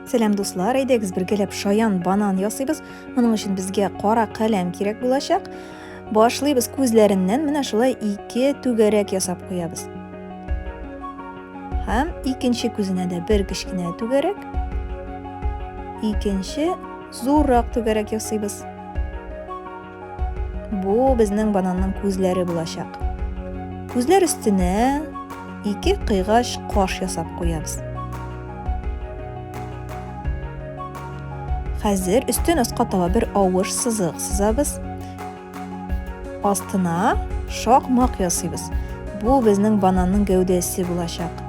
Сәлам дуслар, әйдәгез бергәләп шаян банан ясыйбыз. Моның өчен безгә кара каләм кирәк булачак. Башлыйбыз күзләреннән менә шулай ике түгәрәк ясап куябыз. Һәм икенче күзенә дә бер кечкенә түгәрәк, икенче зуррак түгәрәк ясыйбыз. Бу безнең бананның күзләре булачак. Күзләр өстенә ике кыйгач каш ясап куябыз. Хәзер өстен аска таба бер авыш сызык сызабыз. Астына шакмак ясыйбыз. Бу безнең бананның гәүдәсе булачак.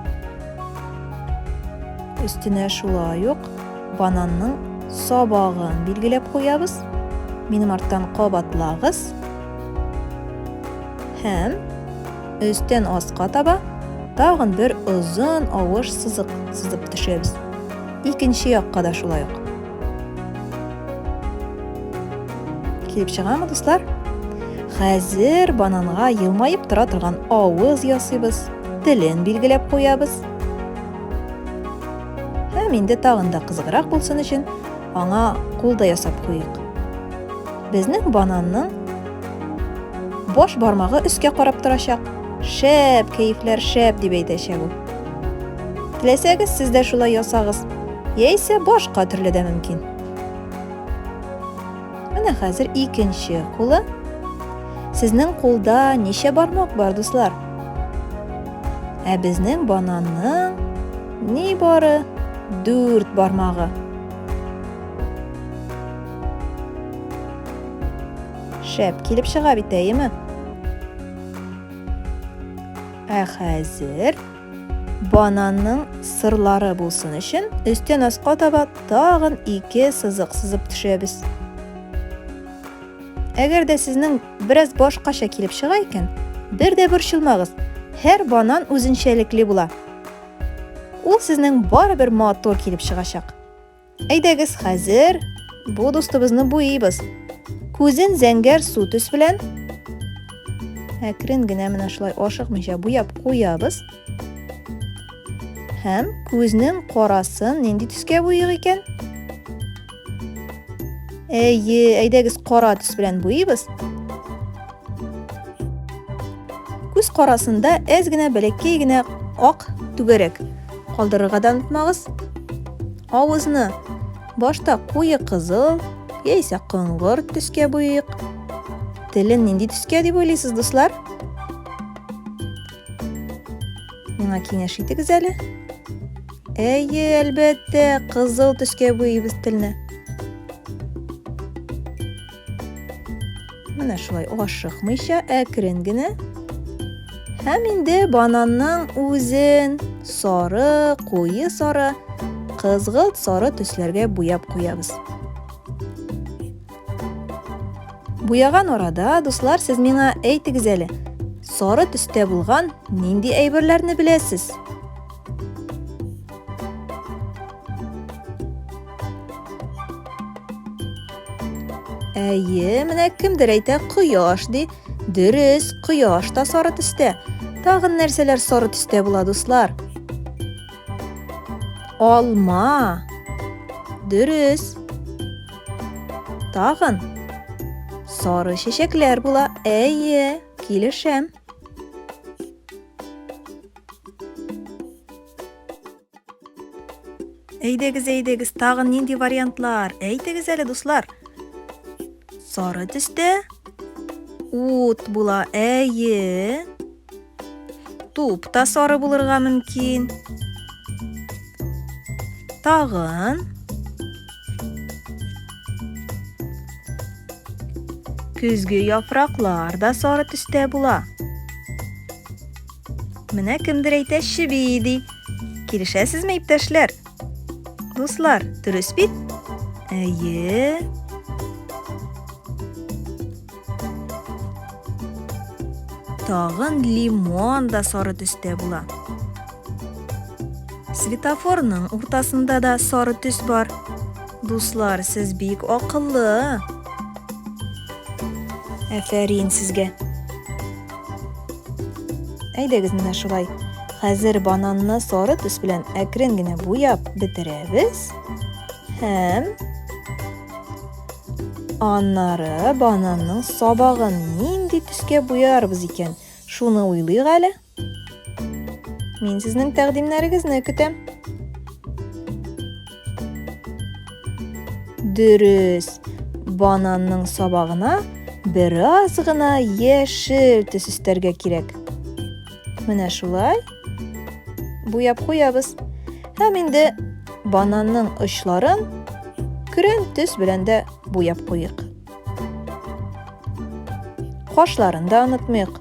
Өстенә шулай ук Бананның сабагын билгеләп куябыз. Минем арттан кабатлагыз. Һәм өстен аска таба тагын бер озын авыш сызык сызып төшәбез. Икенче якка да шулай ук. Килеп чыгамы, дуслар? Хәзер бананга елмаеп тора торган авыз ясыйбыз, телен билгеләп куябыз. Һәм инде тагын да кызыграк булсын өчен, аңа кул да ясап куйыйк. Безнең бананның баш бармагы өскә карап торачак. Шәп, кәефләр шәп дип әйтәчәк ул. Теләсәгез, сез дә шулай ясагыз. Яисә башка төрле дә мөмкин. Менә хәзер икенче кулы. Сезнең кулда ничә бармак бар, дуслар? Ә безнең бананның ни бары дүрт бармагы. Шәп килеп чыга бит, әйеме? Ә хәзер Бананның сырлары булсын өчен, өстен аска таба тагын ике сызык сызып төшерәбез. Әгәр дә сезнең бераз башкача килеп чыга икән, бер дә борчылмагыз. Һәр банан үзенчәлекле була. Ул сезнең барыбер матур килеп чыгачак. Әйдәгез хәзер бу дустыбызны буйыйбыз. Күзен зәңгәр су төс белән әкрен генә менә шулай ашыкмыйча буяп куябыз. Һәм күзнең карасын нинди төскә буйыйк икән? Әйе, әйдәгез кара төс белән буйыйбыз. Күз карасында әз генә бәләкәй генә ак түгәрәк Калдырырга да онытмагыз. Авызны башта куе кызыл яисә коңгыр төскә буйыйк. Телен нинди төскә дип уйлыйсыз, дуслар? Миңа киңәш итегез әле. Әйе, әлбәттә, кызыл төскә буйыйбыз телне. Менә шулай ашыкмыйча әкрен генә. Һәм инде бананның үзен сары, куе сары, кызгылт сары төсләргә буяп куябыз. Буяган арада, дуслар, сез миңа әйтегез әле, сары төстә булган нинди әйберләрне беләсез? Әйе, менә кемдер әйтә кояш ди. Дөрес, кояш та сары төстә. Тагын нәрсәләр сары төстә була, дуслар? Алма. Дөрес. Тагын сары чәчәкләр була. Әйе, килешәм. Әйдәгез, әйдәгез, тагы нинди вариантлар? Әйтегез әле, дуслар. Сары төстә ут була. Әйе. Туп та сары булырга мөмкин. Тагын. Көзге яфраклар да сары төстә була. Менә кемдер әйтә чеби ди. Килешәсезме, иптәшләр? Дуслар, дөрес бит? Әйе. Тагын лимон да сары төстә була. Светофорның уртасында да сары төс бар. Дуслар, сез бик акыллы. Афәрин сезгә. Әйдәгез менә шулай. Хәзер бананны сары төс белән әкрен генә буяп бетерәбез. Һәм аннары бананның сабагын нинди төскә буярбыз икән? Шуны уйлыйк әле. Мин сезнең тәкъдимнәрегезне көтәм. Дөрес. Бананның сабагына бераз гына яшел төс өстәргә кирәк. Менә шулай. Буяп куябыз. Һәм инде бананның очларын көрән төс белән дә буяп куйыйк. Кашларын да онытмыйк.